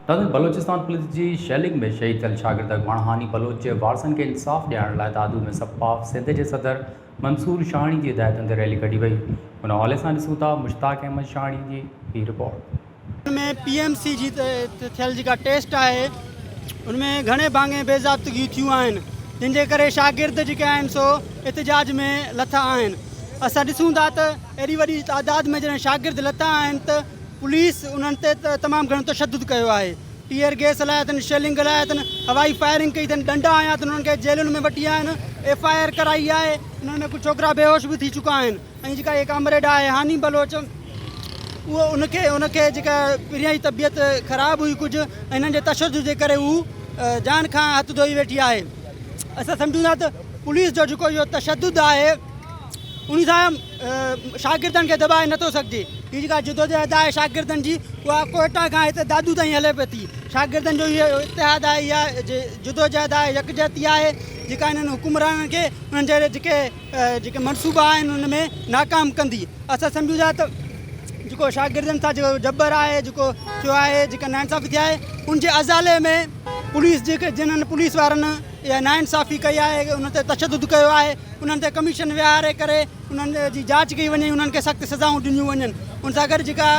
Dadan Balochistan police جي shelling ۾ شهيد ٿيل شاگرد اڳواڻ هاني بلوچ جي وارثن کي انصاف ڏيارڻ لاء دادو ۾ سپا سنڌ جي صدر منصور شاهاڻي جي هدايتن تي ريلي ڪڍي وئي ان حوالي سان ڏسون ٿا مشتاق احمد شاهاڻي جي هي رپورٽ ان ۾ پي ايم سي جي ٿيل جيڪا ٽيسٽ آهي ان ۾ گهڻي ڀاڱي بي ضابطگيون ٿيون آهن جن جي ڪري شاگرد جيڪي آهن سو احتجاج ۾ لٿا آهن اسان ڏسون ٿا ته ايڏي وڏي تعداد ۾ جڏهن شاگرد لٿا آهن ته پوليس انهن تي تمام گهڻو تشدد ڪيو آهي ٽيئر گيس هلائي اٿن شيلنگ هلائي اٿن هوائي فائرنگ ڪئي اٿن ڏنڊا هنيا اٿن انهن کي جيلن ۾ وٺي آيا آهن ايف آء آر ڪرائي آهي انهن ۾ ڪجهه ڇوڪرا بيهوش به ٿي چڪا آهن ۽ جيڪا هي ڪامريڊ آهي هاني بلوچ اهو ان کي ان کي جيڪا پريان جي طبيعت خراب هئي ڪجهه ۽ هنن جي تشدد جي ڪري هو جان کان هٿ ڌوئي ويٺي آهي اسان سمجهون ٿا ته پوليس جو جيڪو اهو تشدد آهي ان سان شاگردن کي دٻائي نٿو سگهجي هي جيڪا جدوجهد آهي شاگردن جي اها ڪوئٽا کان هتي دادو تائين هلي پئي ٿي شاگردن جو اهو اتحاد آهي اها جدوجهد آهي يڪجهتي آهي جيڪا انهن حڪمرانن کي انهن جهڙي جيڪي جيڪي منصوبا آهن ان ۾ ناڪام ڪندي اسان سمجهون ٿا ته جيڪو شاگردن سان جيڪو جبر آهي جيڪو ٿيو آهي جيڪا ناانصافي ٿي آهي ان جي ازالي ۾ پوليس جيڪي جنن پوليس وارن اها ناانصافي ڪئي آهي ان تي تشدد ڪيو آهي انهن تي ڪميشن ويهاري ڪري انهن جي جاچ ڪئي وڃي انهن کي سخت سزائون ڏنيون وڃن ان سان گڏ جيڪا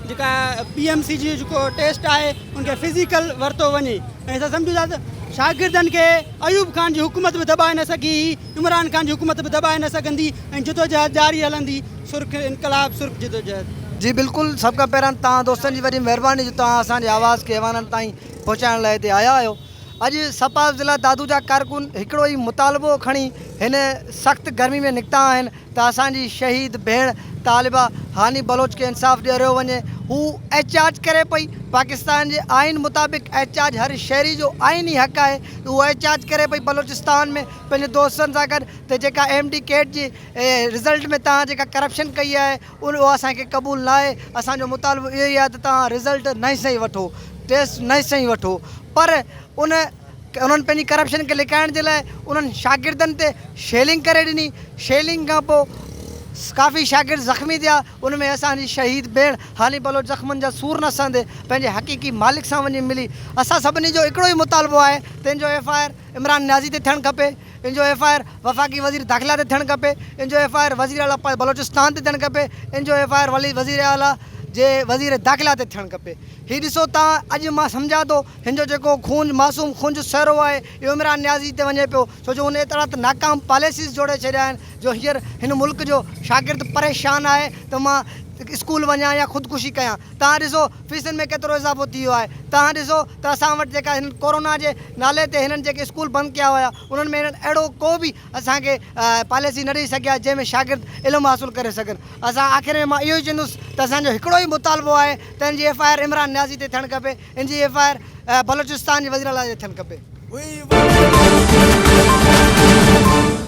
جيڪا پي ايم سي جي جيڪو ٽيسٽ آهي ان کي فزيڪل ورتو وڃي ۽ اسان سمجهون ٿا ته شاگردن کي ايوب خان جي حڪومت به دٻائي نه سگهي هئي، عمران خان جي حڪومت به دٻائي نه سگهندي ۽ جدوجهد جاري هلندي، سرخ انقلاب سرخ جدوجهد. جي بلڪل سڀ کان پهريان توهان دوستن جي وڏي مهرباني جو توهان اسان جي آواز کي ايوانن تائين پهچائڻ لاء هتي آيا آهيو اڄ سپا ضلع دادو جا ڪارڪن هڪڙو ئي مطالبو کڻي هن سخت گرمي ۾ نڪتا آهن ته اسان جي شهيد ڀيڻ طالبه هاني بلوچ کي انصاف ڏيريو وڃي هو احتجاج ڪري پئي پاڪستان جي آئين مطابق احتجاج هر شهري جو آئيني حق آهي ته هو احتجاج ڪري پئي بلوچستان ۾ پنهنجي دوستن سان گڏ ته جيڪا ايم ڊي ڪيٽ جي رزلٽ ۾ توهان جيڪا ڪرپشن ڪئي آهي اهو اسان کي قبول ناهي اسان جو مطالبو اهو ئي آهي ته توهان رزلٽ نئين سئين وٺو ٽيسٽ نئين سئين وٺو پر ان انهن پنهنجي ڪرپشن کي لڪائڻ جي لاء انهن شاگردن تي شيلنگ ڪري ڏني، شيلنگ کان پوء ڪافي شاگرد زخمي ٿيا، ان ۾ اسان جي شهيد ڀيڻ هالي بلوچ زخمن جا سور نه سهندي پنهنجي حقيقي مالڪ سان وڃي ملي، اسان سڀني جو هڪڙو ئي مطالبو آهي ته ان جو F I R Imran Niazi تي ٿيڻ کپي، ان جو ايف آء آر وفاقي وزير داخلا تي ٿيڻ کپي، ان جو ايف آء آر وزير اعليٰ بلوچستان تي ٿيڻ کپي، ان جو ايف آء آر وزير اعليٰ جي وزير داخلا تي ٿيڻ کپي، هي ڏسو تان اڄ مان سمجهان ٿو هن جو جيڪو خونج معصوم خونج سهرو آهي اهو عمران نيازي تي وڃي پيو ڇو جو هن ايترا ته ناڪام پاليسيز جوڙي ڇڏيا آهن جو هينئر هن ملڪ جو شاگرد پريشان آهي ته مان اسڪول وڃان يا خودڪشي ڪيان توهان ڏسو فيسن ۾ ڪيترو اضافو ٿي ويو آهي توهان ڏسو ته اسان وٽ جيڪا هنن ڪورونا جي نالي تي هنن جيڪي اسڪول بند ڪيا هيا انهن ۾ هنن اهڙو ڪو به اسان کي پاليسي نه ڏئي سگهيا جنهن ۾ شاگرد علم حاصل ڪري سگهن اسان آخر ۾ مان اهو ئي چوندس ته اسان جو هڪڙو ئي مطالبو آهي ته هن جي F I R Imran Niazi تي ٿيڻ کپي ان جي ايف آء آر بلوچستان جي وزيراعليٰ جي ٿيڻ کپي.